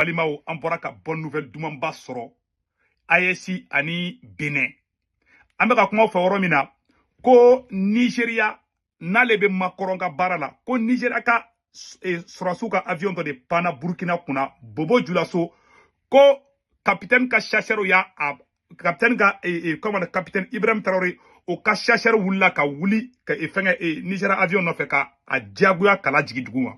balimaw an bɔra ka bonne nouvelle dumanba sɔrɔ AES ani Benin an bɛ ka kuma fɔ yɔrɔ min na ko Nigeria n'ale bɛ Macron ka baara la ko Nigeria ka eh, sɔrɔsiw ka avion dɔ de panna Burkina kunna Bobo Julaso ko capitaine ka chasseurs y'a kapitɛni ka kɔmana kapitɛni ibrahim tarawele o ka chasseur wulila ka wuli ka fɛngɛ Nigeria avion nɔfɛ ka a diyagoya k'a lajigin dugu ma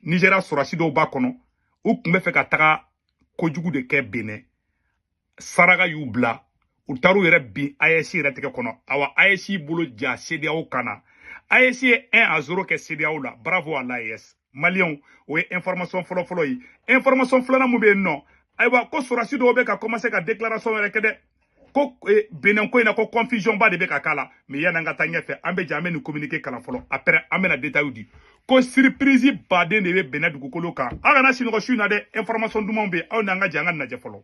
Nigeria sɔrɔsi dɔw b'a kɔnɔ u tun bɛ fɛ ka taga kojugu de kɛ Benin saraka y'u bila u taar'u yɛrɛ bin AES yɛrɛ tɛgɛ kɔnɔ awa AES bolo ja CEDEAO kan na AES ye 1 à 0 kɛ CEDEAO la bravo à l'AES maliyɛnw o ye information fɔlɔ fɔlɔ ye information filanan mun bɛ yen nɔ ayiwa ko sɔrɔsi dɔw bɛ ka commencer ka déclaration wɛrɛ kɛ dɛ ko eh, benin ko in na ko confusion ba de bɛ ka k'a la mais yan'an ka taa ɲɛfɛ an bɛ jɛ an bɛ nin communiqué kalan fɔlɔ après an bɛna détails di ko surprise baden de bɛ benin dugukolo kan aw kana sinɔgɔ su in na dɛ information dumanw bɛ yen aw n'an ka jɛ an ka nin lajɛ fɔlɔ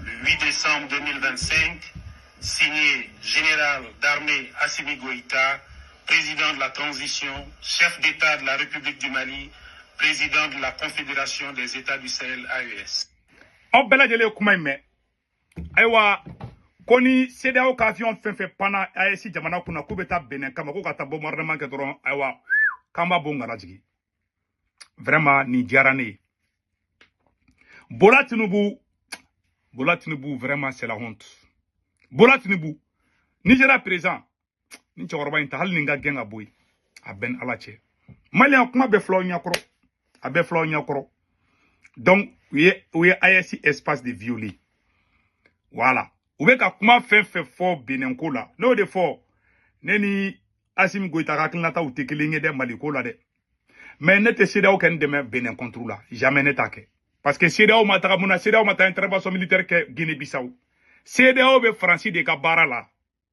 Le 8 décembre 2025, signé général d'armée Assimi Goïta, président de la transition, chef d'État de la République du Mali, président de la Confédération des États du Sahel AES. aw bɛɛ lajɛlen ye kuma in mɛn ayiwa ko ni CEDEAO ka avion fɛn fɛn panna AES jamana kunna k'u bɛ taa benin kama k'u ka taa bombardement kɛ dɔrɔn ayiwa k'an b'a bon k'a lajigin vraiment nin diyara ne ye bola tinubu bola tinubu vraiment c'est la honte bola tinubu Nigeria président nin cɛkɔrɔba in ta hali nin ka gɛn ka bɔ yen a bɛ n n'Ala cɛ maliyɛn kuma bɛɛ fil'aw ɲɛkɔrɔ a bɛɛ fil'aw ɲɛkɔrɔ donc u ye u ye AES espace de violer voilà u bɛ ka kuma fɛn fɛn fɔ benin ko la n'o de fɔ ne ni asimi goyita ka hakilinataw tɛ kelen ye dɛ mali ko la dɛ mais ne tɛ CEDEAO kɔni dɛmɛ benin contre la jamais ne t'a kɛ parce que CEDEAO ma taga mun na CEDEAO ma taa intervention militaire kɛ guinée bissau CEDEAO bɛ faransi de ka baara la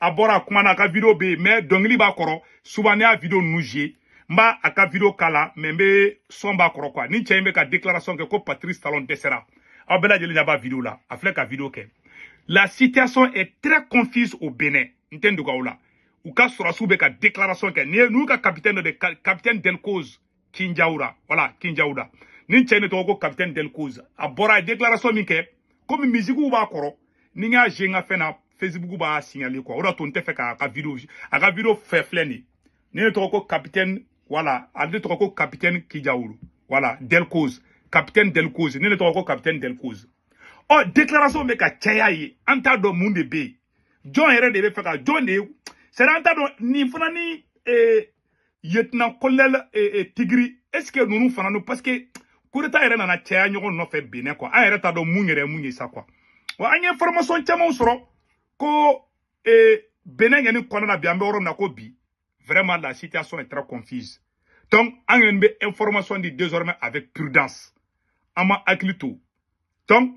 a bɔra a kumana a ka video bɛ yen mais dɔnkili b'a kɔrɔ souvent ne y'a video ninnu jouer n b'a a ka video k'a la mais n bɛ son b'a kɔrɔ quoi nin cɛ in bɛ ka déclaration kɛ ko Patrice Talon dɛsɛra aw bɛɛ lajɛlen ɲɛ b'a video la a filɛ ka video kɛ la situation est très confuse au Bénin n tɛ n dogo aw la u ka sɔrɔsiw bɛ ka déclaration kɛ n'i ye n'u ka capitaine dɔ de capitaine Delcose kinjawura voilà kinjawura nin cɛ in de tɔgɔ ko capitaine delcose a bɔra a déclaration min kɛ komi mizikiw b'a kɔrɔ ni n y'a jouer n ka fɛn na facebook b'a signale quoi o d'a to n tɛ fɛ k'a ka video a ka video fɛ filɛ nin de tɔgɔ ko capitaine voilà a de tɔgɔ ko capitaine kinjawura voilà delcose capitaine delcose nin de tɔgɔ ko capitaine delcose ɔ déclaration bɛ ka caya yen an t'a dɔn mun de bɛ yen jɔn yɛrɛ de bɛ fɛ ka jɔn dɛsɛ an t'a dɔn nin fana ni ee lieutenant colonel eh, eh, Tigri est ce que ninnu fana no parce que coup d'état yɛrɛ nana caya ɲɔgɔn nɔfɛ benin quoi an yɛrɛ t'a dɔn mun yɛrɛ mun ye sa quoi wa an ye information camanw sɔrɔ ko eh, benin yen kɔnɔna na bi an bɛ yɔrɔ min na ko bi vraiment la situation est très confuse donc an yɛrɛ bɛ information di désormais avec prudence an ma hakili to donc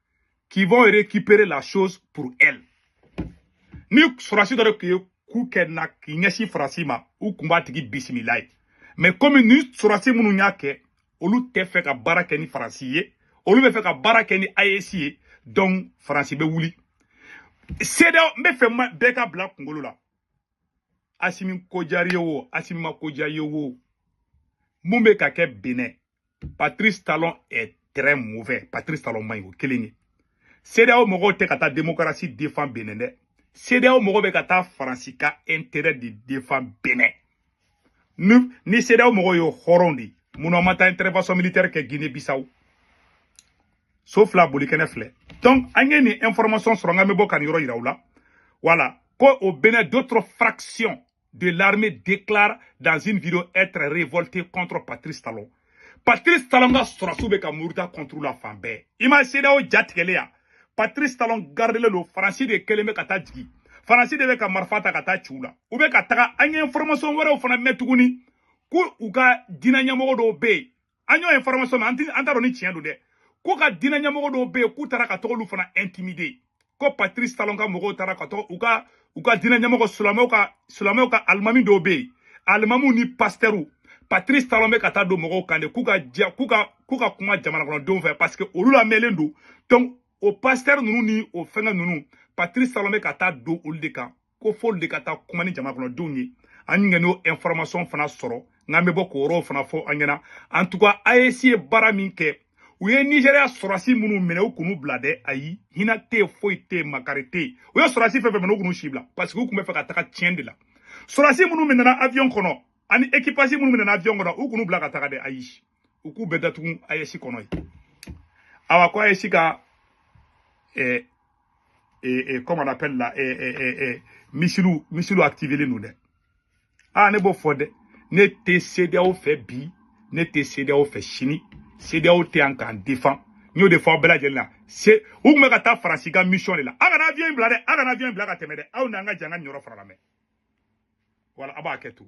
qui vont récupérer la chose pour elle ni sɔrɔsi dɔ de tun ye coup kɛ na k'i ɲɛsin faransi ma u tun b'a tigi bisimila yen mais comme ni sɔrɔsi minnu y'a kɛ olu tɛ fɛ ka baara kɛ ni faransi ye olu bɛ fɛ ka baara kɛ ni AES ye donc faransi bɛ wuli CEDEAO n b'a fɛ bɛɛ k'a bila kunkolo la asimi ko diyara i ye o asimi ma ko diya i ye o mun bɛ ka kɛ Benin patrice talon est très mauvais patrice talon man ɲi o kelen ye CEDEAO mɔgɔw tɛ ka taa démocratie défend Benin dɛ CEDEAO mɔgɔw bɛ ka taa faransi ka intérêt de défend Benin ni ni CEDEAO mɔgɔw ye hɔrɔn de ye munna u ma taa intervention militaire kɛ Guinée Bissau so fila bolikɛnɛ filɛ donc an ye nin information sɔrɔ nka n bɛ bɔ ka nin yɔrɔ yira aw la voilà ko au Benin d'autres fractions de l'armée déclarent dans une vidéo être révoltées contre Patrice Talon. Patrice Talon ka sɔrɔsiw bɛ ka muruti contre la fan bɛɛ. I ma CEDEAO ja tigɛlen ye wa. Patrice Talon gardelen don Faransi de kelen bɛ ka taa jigin. Faransi de bɛ ka marifa ta ka taa ci u la. U bɛ ka taga an ye information wɛrɛw fana mɛn tuguni ko u ka diinɛ ɲɛmɔgɔ dɔw bɛ yen an y'o information mɛn an t'a dɔn ni tiɲɛ don dɛ k'u ka diinɛ ɲɛmɔgɔ dɔw bɛ yen k'u taara ka tag'olu fana intimider ko patrice talon ka mɔgɔw taara ka taga u ka u ka diinɛ ɲɛmɔgɔ silamɛw ka silamɛw ka alimami dɔw bɛ yen alimamiw ni pasitɛriw patrice talon bɛ ka taa don mɔgɔw kan de k'u ka diya k'u ka k'u ka kuma jamanakɔnɔdenw fɛ parce que olu lamɛnlen don donc o pasitɛri ninnu ni o fɛngɛ ninnu patrice talon bɛ ka taa don olu de kan ko fo olu de ka taa kuma ni jamanakɔnɔdenw ye an ɲinɛ n'o information fana sɔrɔ nka n bɛ bɔ k'o yɔrɔw fana fɔ aw ɲɛna en tout cas AES ye baara min kɛ u ye Nigeria sɔrɔsi minnu minɛ u kan'u bila dɛ ayi hinɛ tɛ yen foyi tɛ yen makari tɛ yen u ye sɔrɔsi fɛn fɛn minɛ u kan'u si bila parce que u tun bɛ fɛ ka taga tiɲɛ de la sɔrɔsi minnu minɛna avion kɔnɔ ani équipage minnu minɛna avion kɔnɔ u kan'u bila ka taga dɛ ayi u k'u bɛɛ datugu AES kɔnɔ yen awa ko AES ka eh, eh, eh, comment on appelle là eh, eh, eh, eh, misiliw misiliw activélen don dɛ aa ne b'o fɔ dɛ ne tɛ CEDEAO fɛ bi ne tɛ CEDEAO fɛ sini CEDEAO tɛ yan k'an défend n y'o de fɔ aw bɛɛ lajɛlen na se u tun bɛ ka taa faransi ka mission de la aw kana avion in bila dɛ aw kana avion in bila ka tɛmɛ dɛ aw n'an ka jɛ ka nin yɔrɔ fana lamɛn voilà aw b'a kɛ to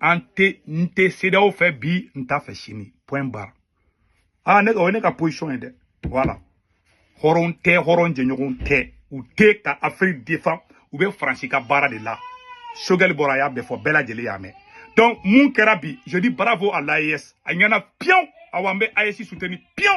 an tɛ n tɛ CEDEAO fɛ bi n t'a fɛ sini point barre aa ne o ye ne ka position ye dɛ voilà hɔrɔn tɛ hɔrɔn jɛɲɔgɔn tɛ u tɛ ka Afiriki défend u bɛ Faransi ka baara de la Choguel bɔra a y'a bɛɛ fɔ bɛɛ lajɛlen y'a mɛn donc mun kɛra bi je dis bravo à l'AES a ɲɛna piyew awa n bɛ AES soutenir piyew